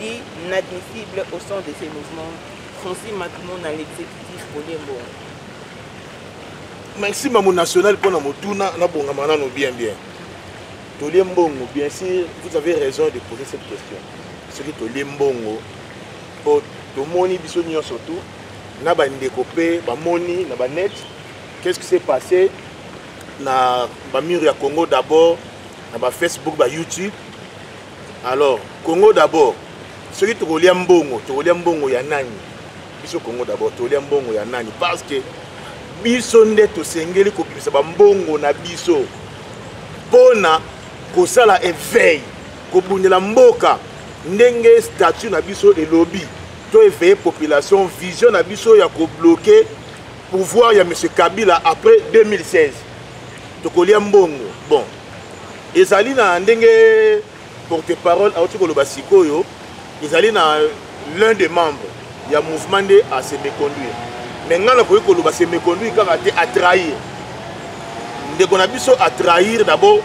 L'inadmissible au son de ses mouvements, Francis Matumo na l'exécutif Pauline Mbongo. Merci Mamu National pour la motuna, na bonga manano bien bien. Tolie Mbongo, bien sûr, vous avez raison de poser cette question. Ce qui Tolie Mbongo, pour tomoni biso nyonso surtout, na bandeko mpe bamoni na banet qu'est-ce qui s'est passé na bamur ya congo d'abord na bafacebook bayoutube alors congo d'abord soki tokolia mbongo tokolia mbongo ya nani biso congo d'abord tokolia mbongo ya nani parce que biso nde tosengeli kobimisa bambongo na biso mpo na kosala eveil kobundela mboka ndenge statut na biso elobi to eveille population vision na biso ya kobloke pouvoir ya m kabila après 2016 tokolia mbongo bon ezali na ndenge porte parole auti koloba sikoyo ezali na l'un des membres ya mouvement nde ase méconduire mais ngai nakoki koloba se méconduire kaka te atrahir ndeko na biso atrahir d'abord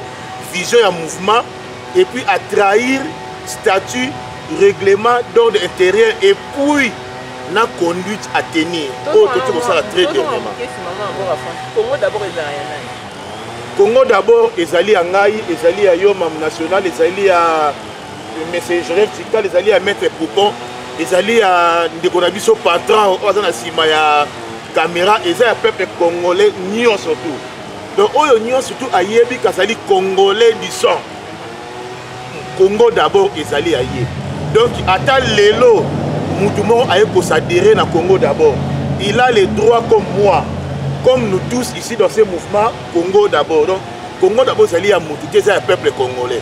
vision ya mouvement et puis atrahir statut règlement d'ordre intérieur et puis na conduite à tenir oyo toki kosala très dernièrement Congo d'abord ezali ya ngai, ezali ya yo mam national, ezali ya monsieur Joseph Tikal, ezali ya maître Poupon, ezali ya ndeko na biso patron oyo aza na nsima ya kamera, eza ya peuple congolais nyonso tout. Donc oyo nyonso tout ayebi kazali congolais du sang. Congo d'abord ezali ya ye. Donc ata lelo mutu moko aye ko s'adhérer na Congo d'abord. Il a les droits comme moi, comme nous tous ici dans ce mouvement Congo d'abord. Donc Congo d'abord ezali ya mutu te, eza ya peuple congolais.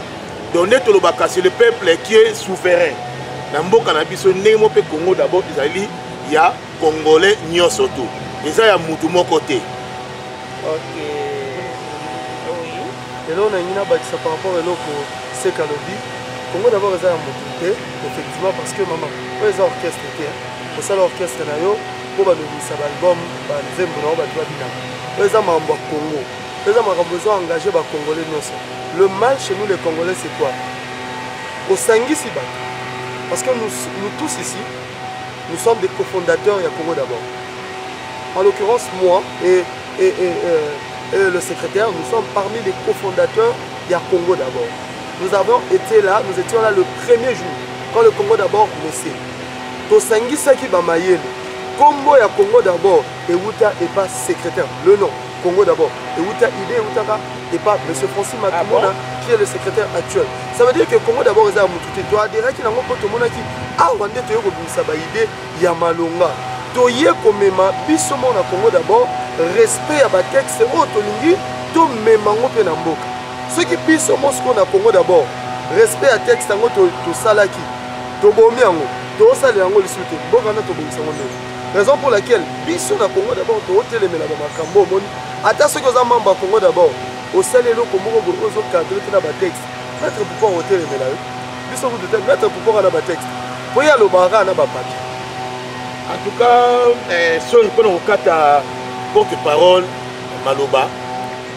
Donc nde tolobaka c'est le peuple qui est souverain. Na mboka na biso ndenge moko mpe Congo d'abord ezali ya congolais nyonso tout. Eza ya mutu moko te. Okay. Eloko na lingi na bakisa par rapport eloko seka lobi Congo d'abord eza ya moto te effectivement parce que maman oyo eza orchestre te osala orchestre na yo mpo balobisa baalbum banzembo na yo bato babinaka oyo eza makambo ya Congo oyo eza makambo ezo engage bacongolais nyonso le mal chez nous les congolais c'est quoi osangisi bato parce que nous, nous tous ici nous sommes des cofondateurs ya Congo d'abord en l'occurrence moi et et, et, euh, euh, le secrétaire, nous sommes parmi les cofondateurs du Congo d'abord. Nous avons été là, nous étions là le premier jour, quand le Congo d'abord naissait. tosangisaki bamayele nkombo ya congo d'abord ewuta epa secrétaire le nom congo d'abord ewuta idée ewutaka epa monsieur francis matumona ah bon? qui est le secrétaire actuel ça veut dire que congo d'abord eza ya motu te toaderaki nango mpo tomonaki awa nde toyei kobimisa baidée ya malonga toye komema biso moko na congo d'abord respect ya batexte oyo tolingi tomema yango mpe na mboka soki biso moko sikoyo na congo d'abord respect ya texte yango tosalaki to tobomi yango tosalela yango lisusu te mboka wana tobongisa yango ndenge raison pour laquelle biso na congo d'abord tootelemela bamakambo omoni ata soki oza membre ya congo d'abord osali eloko moko boye ozokadre te na batexte maitre pourkoi otelemela yo biso kutu te maître kupo kaka na batexte mpo ye alobaka kaka na bapapier en tout cas eh, soni mpo na kokata porte parole maloba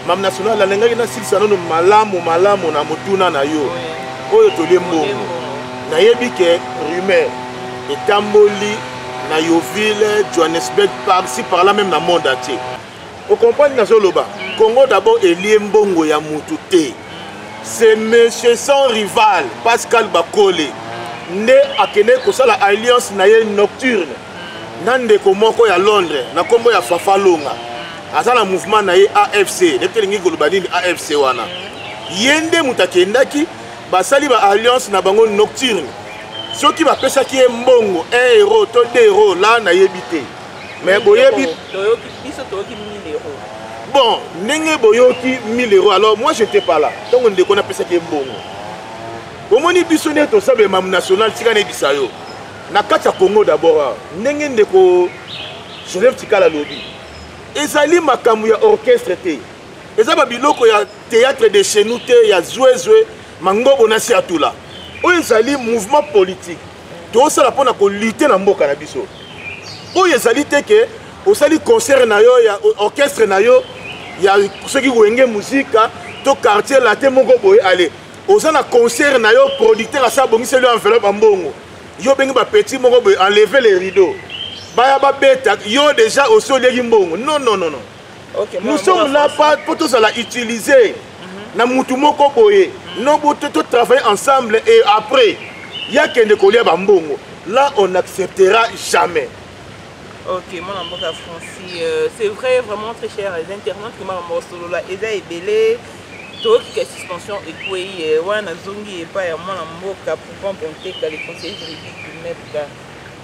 mam national nalingaki nasilisa nono malamu malamu na motuna na yo oyo tolie mbongo nayebi ke rumeur etamboli na yoville johannesburg parci par là même na monde entier O comprendre nazo loba. Congo d'abord elie mbongo ya mutu te. C'est monsieur sans rival Pascal Bakole nde akende kosala alliance na ye nocturne na ndeko moko ya Londres na kombo ya Fafa Longa. Aza na mouvement na ye AFC. Nde telingi koloba nini AFC wana. Ye nde mutu akendaki basali ba alliance na bango nocturne soki bapesaki ye mbongo 1 euro to 2 euro la nayebi te mais boyebi bon ndenge boyoki 1000 euro alors moi je te parla ntango ndeko napesaki ebongo omoni biso nde tosala bemam national tika nayebisa yo na kati ya congo d'abord ah, ndenge ndeko joseph tikala alobi ezali makambo ya orchestre te eza babiloko ya théâtre de chez nous te ya zwezwe mangobo na siatula oyo ezali mouvement politique tosala mpo na kolite na mboka na biso oyo ezali te ke osali concert na yo ya orchestre na yo ya soki wenge muzika to quartier late moko boye ale oza na concert na yo producteur asi abongiseli yo enveloppe ya mbongo yo obengi bapetit moko boye enleve le rideau baya babeta yo deja osi olieki mbongo non non non non nous sommes là pas mpo tozala utilise mhm. na mutu moko boye no totravaille ensemble et après ya kende kolia bambongo là on acceptera jamais ok mwana mboka franci euh, c'est vrai vraiment très cher les internautes que makambo osolola eza ebele tokika suspension ekwei euh, wana nazongi epai ya mwana mboka poupon bonteka le conseiller juridique du mepka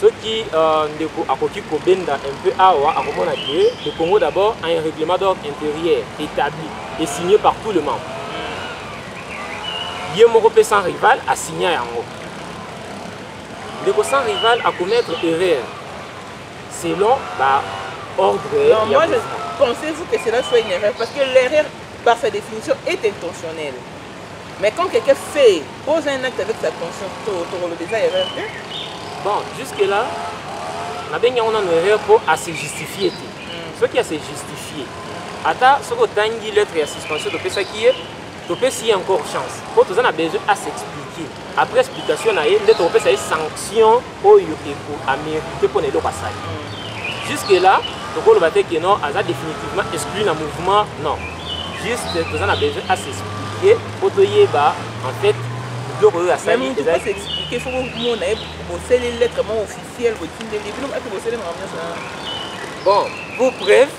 soki uh, ndeko akoki kobenda un peu awa akomona que le congo d'abord a un règlement d'ordre intérieur établi et signé par tout le monde ye moko mpe sans rival asigna yango ndeko sans rival akomettre erreur selon baordre ya moi je pensez-vous que cela soit une erreur parce que l'erreur par sa définition est intentionnelle Mais quand quelqu'un fait, pose un acte avec sa conscience, tokoloba eza erreur te. Bon, jusque là, nabengi yango nano erreur mpo ase justifie te. Mm. Soki ase justifie, ata soki otangi lettre ya suspension topesaki ye, topesi ye encore chance. Mpo toza na besoin à s'expliquer. Après explication na ye, nde tokopesa ye sanction oyo eko amerite mpo na eloko asali jusque là tokoloba te ke non aza définitivement exclu na mouvement non juste toza na besoin à s'expliquer mpo toyeba en fait biloko oyo asali ezaliexplique fo bomona ye boseli lettre moko officielle botindeli bino ake boseli makambo nyonso bon pour preuve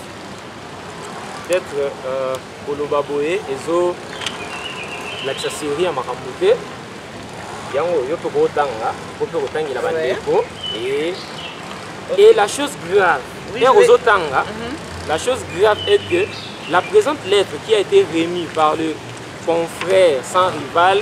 peut-être euh, Koloba boye ezo lakisa seri ya makambo te yango yo mpe kootanga po mpe kotangela bandeko e et la chose grave heure ozotanga mhm. la chose grave est que la présente lettre qui a été remise par le confrère sans rival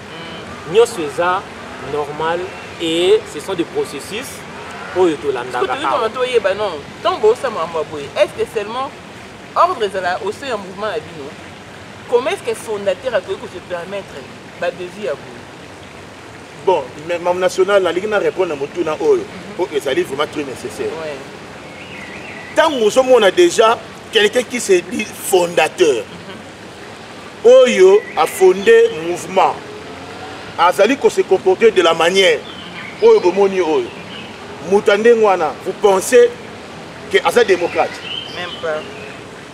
nioso eza normal et ce sont des processus oyo tolandaka awa toyeba non ntango bosala makambo ya boye est ce que seulement ordre ezala au sein ya mouvement na bino comment est ce que fondateur akoki ko se permettre badevis ya boye bon mam national nalingi na répondre na motuna oyo mpo mhm. ezali vraiment très nécessaire ntango ozomona déjà quelqu'un qui se dit fondateur mhm. oyo a fonde mouvement azali ko se comporter de la manière oyo bomoni oyo moto ya ndenge wana vous pensez que aza démocrate Même pas.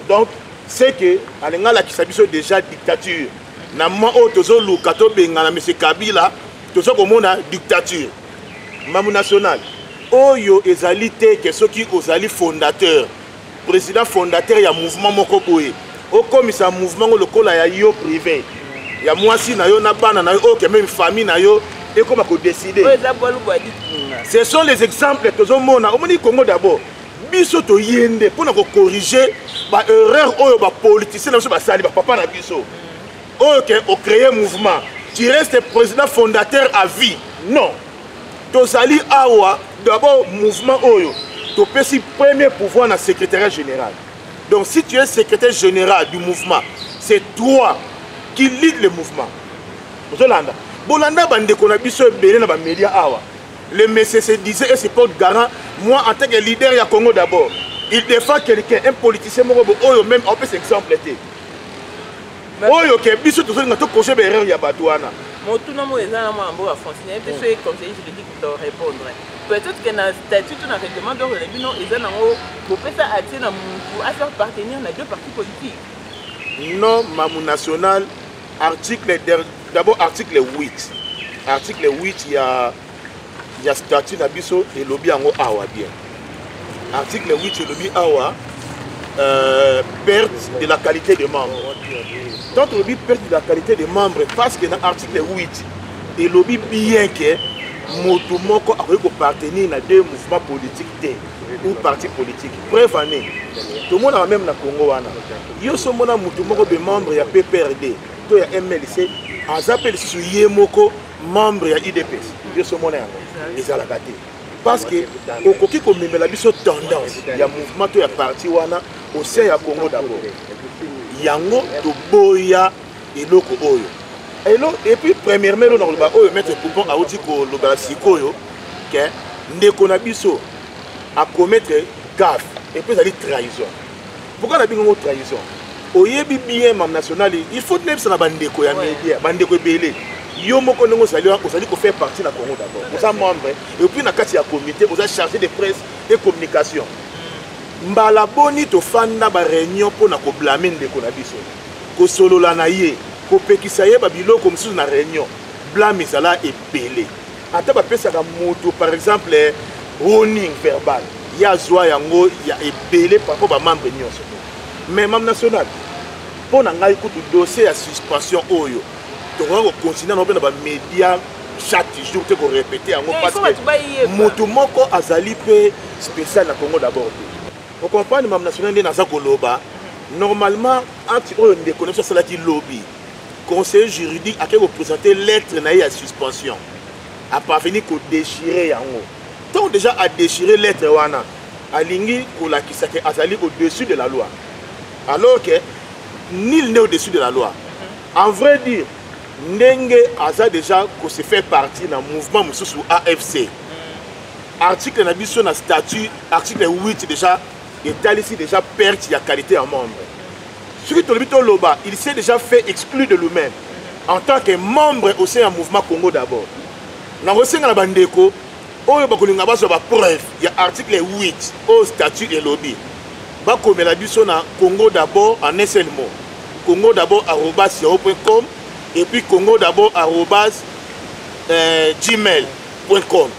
donc c'est que alingi alakisa biso déjà dictature na mwa oyo tozoluka tobengana monsieur kabila toza komona dictature mamu nationale oyo ezali te ke soki ozali fondateur president fondateur ya mouvement moko boye okomisa mouvement ngo lokola ya yo privé ya mwasi na yo na bana na yo oyo kembe famille na yo ekoma kodeside ce sont les exemples tozomona omoni congo d'abord biso toye nde mpo na kokorige baerreur oyo bapoliticien na biso basali bapapa na biso oyo ke ocreye mouvement tu reste président fondateur à vie non tozali awa d'abord mouvement oyo topesi premier pouvoir na secrétariat général donc si tu es secrétaire général du mouvement c'est toi qui lead le mouvement ozolanda bolanda bandeko na biso ebele na bamédia awa le monsieur se disait et se porte garant moi en tant que leader ya congo d'abord il défend quelqu'un un politicien moko bo oyo même apesa exemple te oyo ke biso tozolinga tokose baerreur ya bato wana motuna moyo eza na mwana mboka français nayebi te soki conseiller juridique to répondre peut-être que na statut to na règlement d'ordre na bino eza nango bopesa accès na motu a faire partenir na deux partis politiques non mamu national article d'abord article 8 article 8 ya ya statut na biso elobi yango awa bien article 8 elobi awa euh, perte de la qualité de membre tant olobi perte de la qualité de membre parce que na article 8 elobi bien que moto moko akoki kopartenir na deux mouvement politique te ou parti politique preuve année tomonaka meme na congo wana yo so omona moto moko be membre ya pprd to ya mlc aza mpe lisusu ye moko membre ya udps yoso omona yango ezalaka te parce que okoki komemela biso tendance ya mouvement to ya parti wana au sein ya congo d'abord yango toboya eloko oyo elo epuis premièrement elo nakoloba oyo maître coupon auti kolobela sikoyo ke ndeko na biso akometre gaffe epuis ezali trahison Pourquoi na bingo trahison oyebi bien mam national il faut nayebisa na bandeko ya media bandeko ebele yo moko ndenge ozali ozali kofaire partie na congo d'abord oza membre et puis na kati ya comité oza chargé de presse et communication mbala boni tofanda bareunion mpo na koblame ndeko na biso kosolola na ye kopekisa ye babiloko mosusu na reunion blame ezala ebele ata bapesaka moto par exemple warning verbal ye azwa yango ya ebele parpo bamembre nyonso mais mam national mpo na ngai kutu dossier ya suspension oyo tokoka kocontinue yango mpe na bamédia chaque jour te korepete yango eh, parce que moto moko azali mpe spécial na congo d'abord te okomprendre mam national nde naza koloba normalement acte oyo ndeko na biso asalaki lobi conseiller juridique akei kopresente lettre na ye ya suspension aparveni kodechire yango ntango deja adechire lettre wana alingi kolakisa ke azali au-dessus de la loi alors que nil n'est au-dessus de la loi en vrai dire ndenge aza deja kose faire partie na mouvement mosusu afc article na biso na statut article 8 deja etalisi deja perte ya qualité ya membre soki tolobi toloba il s'est déjà fait exclure de lui-même en tant que membre au sein ya mouvement congo d'abord nakosenga na bandeko oyo bakolinga bazwa bapreuve ya article 8 oyo statut elobi bakomela biso na congo d'abord en un seul mot congo d'abord arobas yahoo point com et puis congo d'abord arobas euh, gmail point com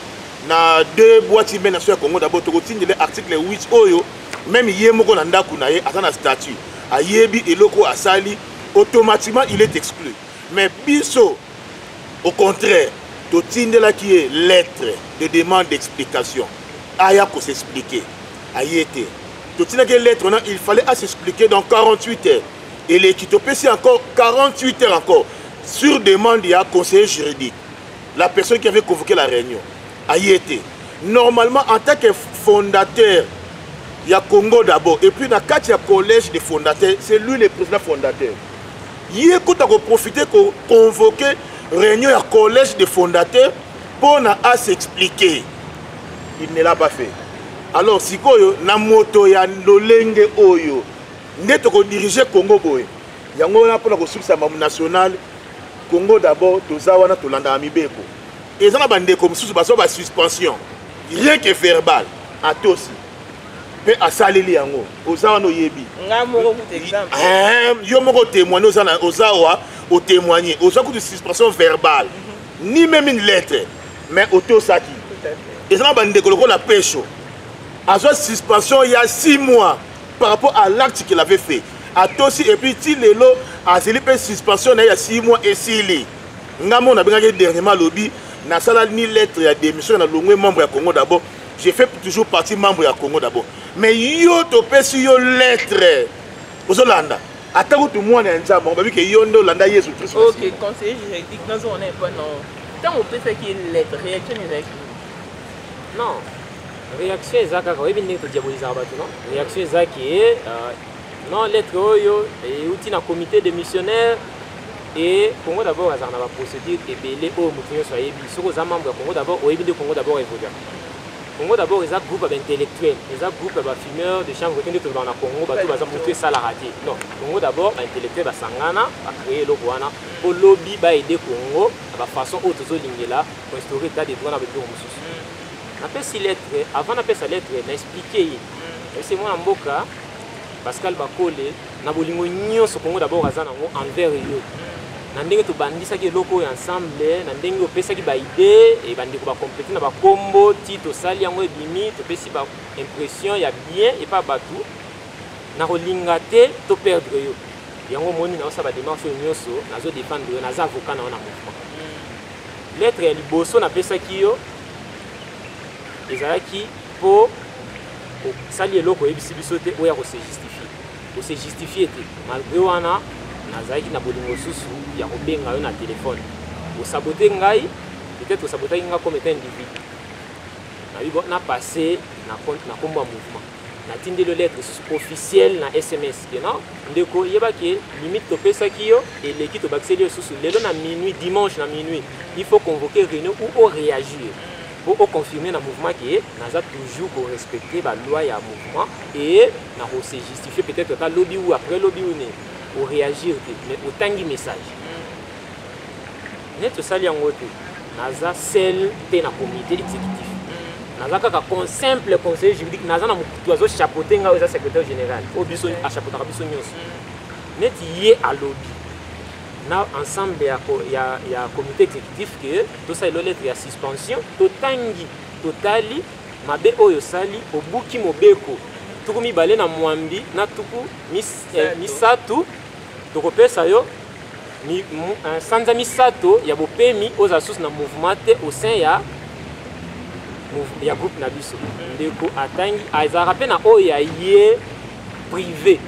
na deux boîte email na biso ya congo d'abord tokotindele article 8 oyo meme ye moko na ndako na ye aza na statut ayebi eloko oyo asali automatiquement il est exclu mais biso au contraire totindelaki ye lettre de demande d'explication aya kosexplike aye te totindaki ye lettre wana il fallait asexplike dans 48 heures eleki topesi encore 48 heures encore sur demande ya conseiller juridique la personne qui avait convoqué la réunion aye te normalement en tant que fondateur ya congo d'abord et puis na kati ya collège des fondateurs c'est lui le président fondateur ye kuta koprofite koconvoke réunion ya collège des fondateurs mpo na a s'expliquer il ne l'a pas fait alors sikoyo na moto ya lolenge oyo nde tokodirige congo boye yango wana mpo na kosukisa mamu nationale congo d'abord toza wana tolandaka mibeko eza na bandeko mosusu bazwa basuspension rien que verbal atosi mpe asaleli yango oza wana oyebi eh, yo moko otémoigne oza wa otémoigne ozwa kutu suspension verbale mhm. ni meme une lettre mais otosaki eza na bandeko lokola pesho azwa suspension ya 6 mois par rapport à l'acte qu'il avait fait atosi epuis ti lelo azeli mpe suspension na ye ya 6 mois esili nga moko nabengaki dernièrement alobi nasala ni lettre ya démission na longwe membre ya congo d'abord je fais toujours partie membre ya congo d'abord mais yo topesi yo lettre ozolanda ata kutu mwana ya nzambe babi ke yo nde olanda yesu kristo ok conseiller juridique nazo wana epa non ntango opesaki lettre réaction ezalaki non réaction eza kaka oyebi ndenge todiabolisaka bato non réaction eza ke euh, non lettre oyo euti na comité de missionnaire Et Congo d'abord azalaka na ba procédures ebele oyo moto nyonso ayebi. Soki oza membre ya Congo d'abord oyebi nde Congo d'abord evoluaka. Congo d'abord eza groupe ya ba intellectuels, eza groupe ya ba fumeurs de chanvre te nde tolobaka na Congo bato baza moto esalaka te. Non, Congo d'abord ba intellectuels basangana ba créer eloko wana mpo lobi ba aider Congo na ba façons oyo tozolingela ko instaurer état de droit na ba biloko mosusu. Napesi lettre, avant napesa lettre na expliquer ye. Nayebisi ye mwana mboka Pascal Bakole na bolingo nyonso congo dabord aza nango envers yo na ndenge tobandisaki eloko oyo ensemble na ndenge opesaki baide e bandeko bakomplete na bakombo ti tosali yango ebimi topesi baimpression ya bien epa bato na kolinga te to perdre yo yango omoni naosala bademarche oyo nyonso nazo defendre yo naza avocat na yo na mouvement lettre ya liboso napesaki yo ezalaki mpo osali eloko oyebisi biso te oya kose justifier ko se justifier te malgré wana nazalaki na bolingo mosusu ya kobenga yo na telefone osabote ngai peut-être osabotaki ngai comme etant individu nayebi na passe na nkombo ya mouvement natindeli yo lettre lisusu officielle na sms kena ndeko yeba ke limite topesaki yo eleki tobakiseli yo lisusu lelo na minuit dimanche na minuit il faut convoquer réunion ou oréagir po o confirmer na mouvement ke naza toujours ko respecter ba loi ya mouvement et na ko se justifier peut-être ata lobi ou après lobi ou ne o réagir te mais otangi message neti osali yango te naza seul te na comité exécutif naza kaka con simple conseiller juridique naza na mokutu azo chapeaute ngai eza secrétaire général oyo biso achapeautaka biso nyonso neti ye alobi na ensemble ya, ya, ya comité exécutif ke tosali lo lettre ya suspension totangi totali mabe oyo osali obuki mobeko tuku mibale na mwambi na tuku mis, eh, misato tokopesa yo mi, mu, eh, sanza misato ya bopemi ozala susu na mouvement te au sein ya ya groupe na biso ndeko atangi azalaka mpe na oyo ya ye privé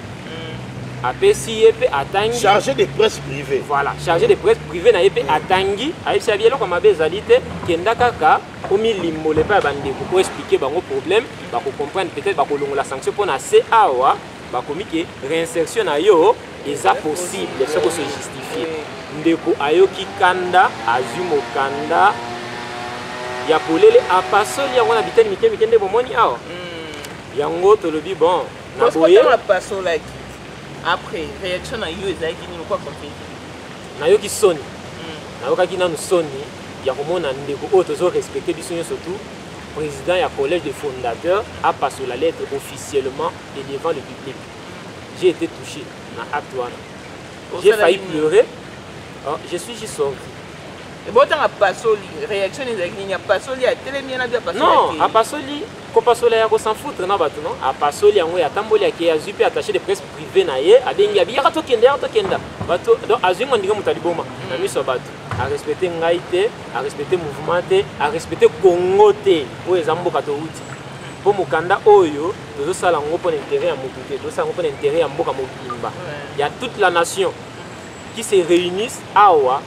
apesi ye mpe atangi chargé de presse privé voilà chargé de presse privé na ye mpe atangi ayebisa bi eloko mabe ezali te kenda kaka omilimbola epai ya bandeko mpo explike bango problème bakocomprendre peut-être bakolongola sanction mpo na se awa bakomi ke réinsertion na yo eza possible soki ose justifie ndeko ayoki kanda azwi mokanda ya polele apasoli yango na biteni mike mike nde bomoni awa mm. yango tolobi bon na boye apasolaki après réaction na yo ezalaki nini okwa compete nayoki soni hmm. nayokaki nanu soni ya komona ndeko oyo tozo respecte biso nyonso tout président ya collège de fondateur apasola lettre officiellement et devant le public j'ai été touché na acte wana j'ai failli pleurer oh, je suis juste sorti ebotanga pasoli réaction ezalaki nini apasoli atelemi ye na bi apasoli non apasoli Kopasola ya ko s'en foutre na bato no apasoli yango ye atamboli ake azwi mpe attaché de presse privé na ye abengi abi yaka tokenda yaka tokenda bato donc azwi ngo ndenge moto aliboma na miso ya bato arespecte ngai te arespecte mouvement te arespecte congo te oyo eza mboka towuti mpo mokanda oyo tozosala yango mpo na intérêt ya motu te tozosala yango mpo na intérêt ya mboka mobimba ya toute la nation qui se réunissent awa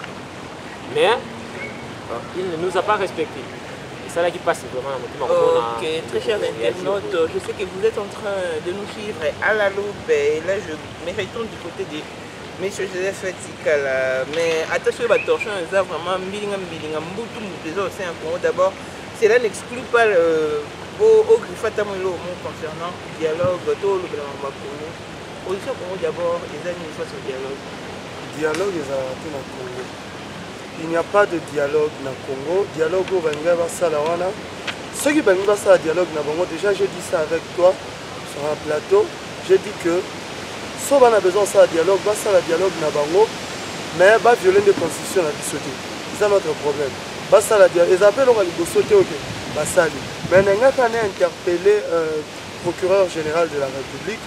mais euh, il ne nous a pas respecté esalaki mpasi vraiment na motema ok très cher internaute je sais que vous êtes en train de nous suivre à la loupe et là je me retourne du côté de monsieur joseph tikala mais ata soki batorsion eza vraiment mbilinga mbilinga mbutu mbutu eza osin ya congo d'abord cela n'exclut pas euh, ogriffe ata mo eloko moko concernant dialogue to olobela makambo ya congo oyo ya congo d'abord eza nini face au dialogue Dialogue ezalaka te na Congo. Il n'y a pas de dialogue na Congo. Dialogue oyo balingai basala wana. Soki balingi basala dialogue na bango, déjà j'ai dit ça avec toi sur un plateau. J'ai dit que so bana besoin basala dialogue, basala dialogue na bango, mais ba violer nde constitution na biso te. C'est ça notre problème. Basala dialogue. Eza pe loka liboso te oke basali. Mais nengaka na interpeller euh, procureur général de la République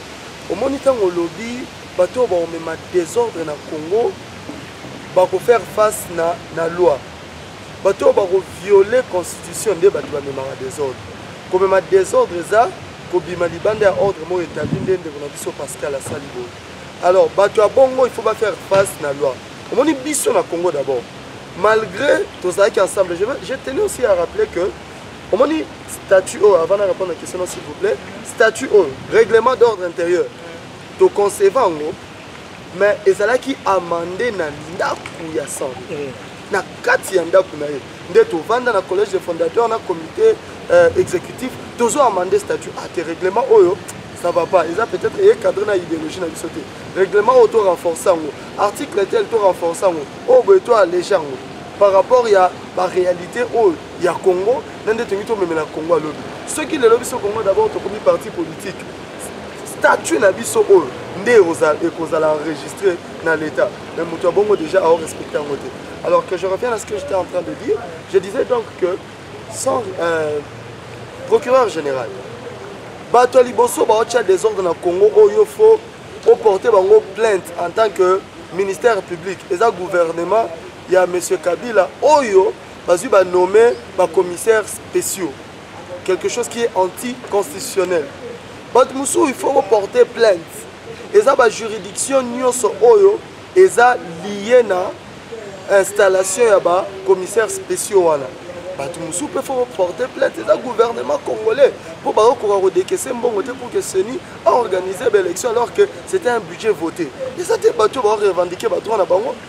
omoni ntango olobi bato oyo bakomema desordre na congo bakofaire face na, na loi bato oyo bakoviole constitution nde bato bamemaka desordre komema desordre eza kobima libanda ya ordre moko etabli nde ndeko na biso pascal asali boye alors bato ya bongo il faut bafaire face na loi omoni biso na congo d'abord malgré tozalaki ensemble je tenais aussi à rappeler que omoni statut oyo avant na répondre na question s'il vous plaît statut oyo règlement d'ordre intérieur to conceva yango mais ezalaki amande na ndako ya sango eh. na kati ya ndako na ye nde tovanda na collège de fondateur na comité euh, exécutif tozo amande statut ate ah, règlement oyo ça va pas eza peut-être eye cadre na idéologie na biso te règlement oyo to renforce yango article tel to renforce yango oyo oh, boye to allege yango par rapport ya baréalité oyo ya congo na nde tolingi tomemela congo alobi soki lelo biso congo d'abord tokomi parti politique statut na biso oyo nde ekozala enregistré na l'état mais moto ya bongo déjà ao respecte yango te alors que je reviens à ce que j'étais en train de dire je disais donc que sans euh, procureur général bato ya liboso baotya desordre na congo oyo fo oporte bango plainte en tant que ministère public eza gouvernement ya monsieur kabila oyo bazwi banome bacommissaire spéciaux quelque chose qui est anticonstitutionnel bato mosusu il faut koporte plainte eza bajuridiction nyonso oyo eza lie na installation ya bacommissaire spéciaux wana bato mosusu mpe faut porte plainte eza gouvernement congolais mpo bakokoka kodekese mbongo te pour que seni aorganiser baélection alors que c'était un budget voté eza te bato baorevendike bato wana bango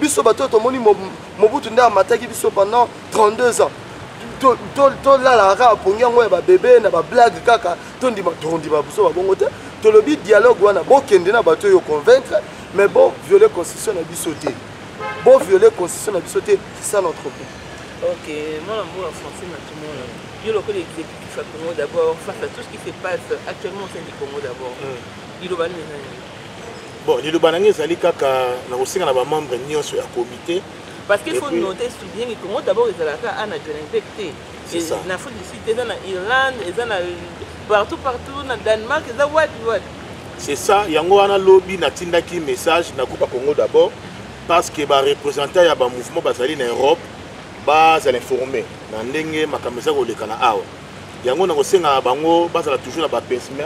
biso bato oyo tomoni mobutu nde amataki biso pendant 32 ans tolala kaka pongi yango ya babebe na bablage kaka tondima tondima biso babongo te tolobi dialogue wana bokende na bato oyo convaincre mais bo viole constitution na biso te bo viole constitution na biso te c'est ça notre point ok mwana mbola français na tomona yo lokola exécutif ya congo d'abord face à tout ce qui se passe actuellement au sein du congo d'abord liloba nini Bon, liloba na ngai ezali kaka na kosenga na ba membres nyonso ya comité parce qu'il faut noter souligner que Congo d'abord ezalaka a na Johannesburg te. C'est ça. Na Afrique du Sud, eza na Irlande, eza na partout partout na Danemark, eza wapi wapi. C'est ça, yango wana lobi natindaki message na groupe Congo d'abord parce que ba représentants ya ba mouvement bazali na Europe bazala informé na ndenge makambo eza kolekana awa yango na kosengaka bango bazala toujours na bapesme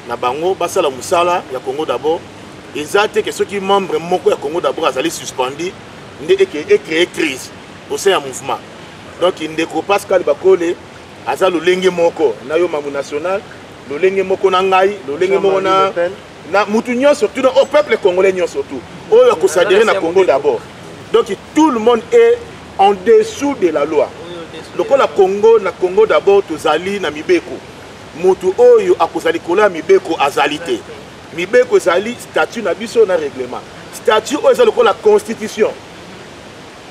na bango basala mosala ya congo d'abord eza te ke soki membre moko ya congo d'abord azali suspendi nde ecree crise au sein ya mouvement donc ndeko pascal bakole aza lolenge moko na yo mangu national lolenge moko na ngai lolenge moko na na mutu nyonso tuna au peuple congolais nyonso tout oyo akosadere na congo d'abord donc tout le monde est en dessous de la loi lokola congo na congo d'abord tozali na mibeko moto oyo akozala likolo ya mibeko azali te mibeko ezali statut na biso na règlement statut oyo eza lokola constitution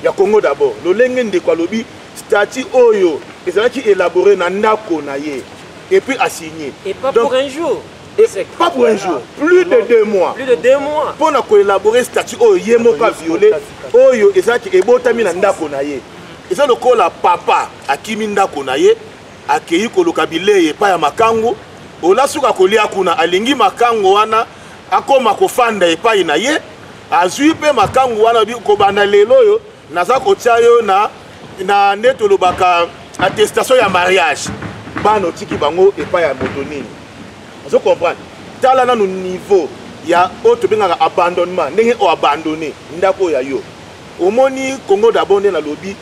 ya congo d'abord lolenge ndeko alobi statut oyo ezalaki élabore na ndako na ye epuis asigne donc pas pour un jour plus de deux mois plus de deux mois mpo na koélabore statut oyo ye moko aviole oyo ezalaki ebotami na ndako na ye eza lokola papa akimi ndako na ye akei koluka bilei epai ya makango ola suka kolia kuna alingi makango wana akoma kofanda epai na ye azwi mpe makango wana kobanda lelo oyo naza kotia yo na na nde tolobaka attestation ya mariage bana otiki bango epai ya moto nini ozo comprendre tala nanu niveau ya oyo tobengaka abandonnement ndenge o abandonne ndako oyo ya yo omoni congo dabord nde nalobi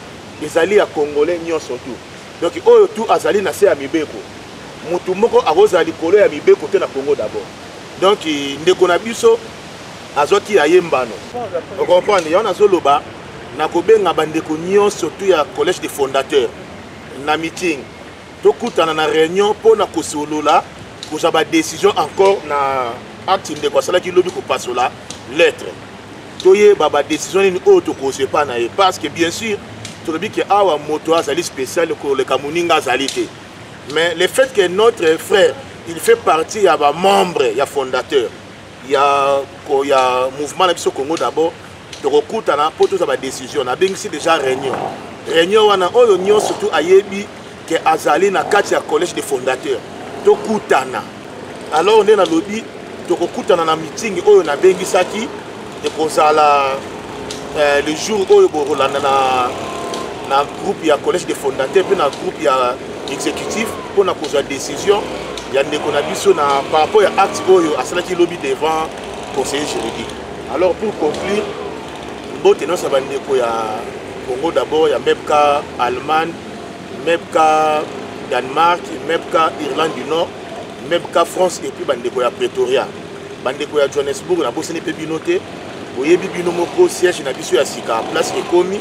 ezali ya congolais nyonso tu donc oyo tu azali na se ya mibeko motu moko akozala likolo ya mibeko te na congo dabord donc ndeko na biso azwaki ya ye mbano okomprendre yango nazoloba na kobenga bandeko nyonso surtout ya collège de fondateur na meeting tokutana na réunion mpo na kosolola kozwa badécision encore na acte ndeko asalaki lobi kopasola lettre toyeba badécision nini oyo tokozwa epa na ye parce que bien sûr tolobi ke awa moto azali spécial koleka moninga azali te mais le fait que notre frère il fait partie ya bamembre ya fondateur ya, ko, ya mouvement na biso congo d'abord tokokutana mpo tozwa badécision nabengisi déjà réunion réunion wana oyo nyonso tu ayebi ke azali na kati ya collège de fondateur tokutana alors nde nalobi tokokutana na meeting oyo nabengisaki ekozala eh, le jour oyo bokolanda na, na groupe ya collège de fondateur mpe na groupe ya exécutif mpo na kozwa décision ya ndeko na biso na par rapport ya acte oyo asalaki lobi devant conseiller juridique alors pour conclure mbote nyonso ya bandeko ya congo d'abord ya mepka allemagne mepka danemark mepka irlande du nord mepka france epuis bandeko ya pretoria bandeko ya johannesburg nabosani mpe bino te boyebi bino moko siège na biso ya sika place ekomi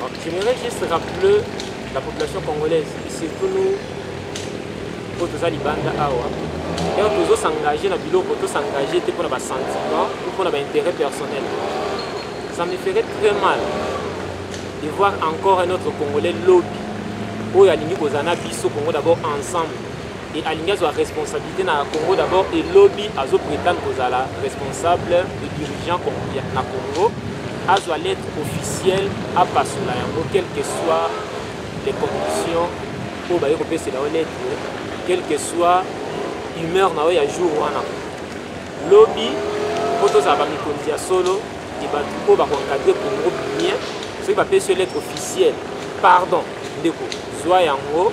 Donc, je voudrais juste rappeler la population congolaise, et surtout nous, oyo toza libanda awa donc tozo s'engager na biloko to s'engager te mpona basentiment ou mpona baintérêt personnel ça me ferait très mal de voir encore un autre congolais lobi oyo alingi kozala na biso congo d'abord ensemble et alingi azwa responsabilité na congo d'abord et lobi azo prétendre kozala responsable et dirigeant na congo azwa lettre officielle apasola yango quelle que soit les conditions oyo baye kopesela yo lettre quelle que soit humeur na yo ya jour wana lobi mpo tozala bamikonzi ya solo e bato oyo bakoencadre congo bien soki bapesi yo lettre officielle pardon ndeko zwa yango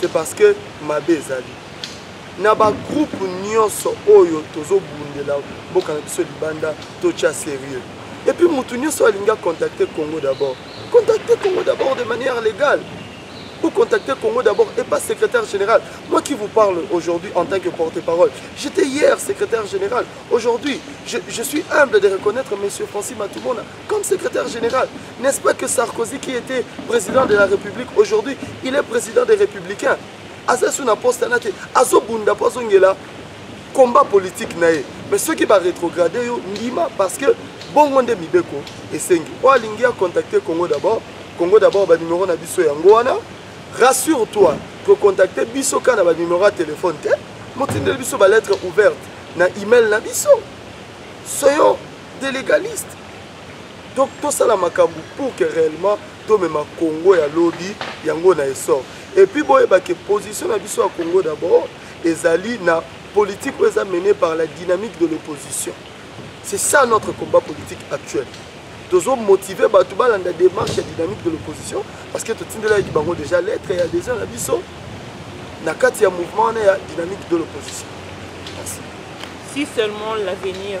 c'est parce que mabe ezali na bagroupe nyonso oyo tozobundela mboka na biso libanda totya sérieux epuis motu nyonso alingi acontacte congo d'abord contacte congo d'abord de manière légale ou contacter Congo d'abord et pas secrétaire général. Moi qui vous parle aujourd'hui en tant que porte-parole, j'étais hier secrétaire général. Aujourd'hui, je, je, suis humble de reconnaître M. Francis Matoumona comme secrétaire général. N'est-ce pas que Sarkozy, qui était président de la République, aujourd'hui, il est président des Républicains. aza so na poste wana te azobunda mpo azongela combat politique na ye mais soki barétrograde yo ndima parce que bongo nde mibeko esengi oyo alingi acontacte congo d'abord congo d'abord banimero na biso yango wana rassure toi kocontacte biso kaka na banimero ya telefone te motindeli biso balettre ouverte na email na biso soyo de légaliste donc tosala makambo pour que réellement tomema congo ya lobi yango na essor et puis boyeba ke position na biso ya congo d'abord ezali na politique oyo eza menée par la dynamique de l'opposition c'est ça notre combat politique actuel tozo motive bato balanda démarche ya dynamique de l'opposition parce que totindelaki bango déjà lettre ya déjà na biso na kati ya mouvement wana ya dynamique de l'opposition si seulement l'avenir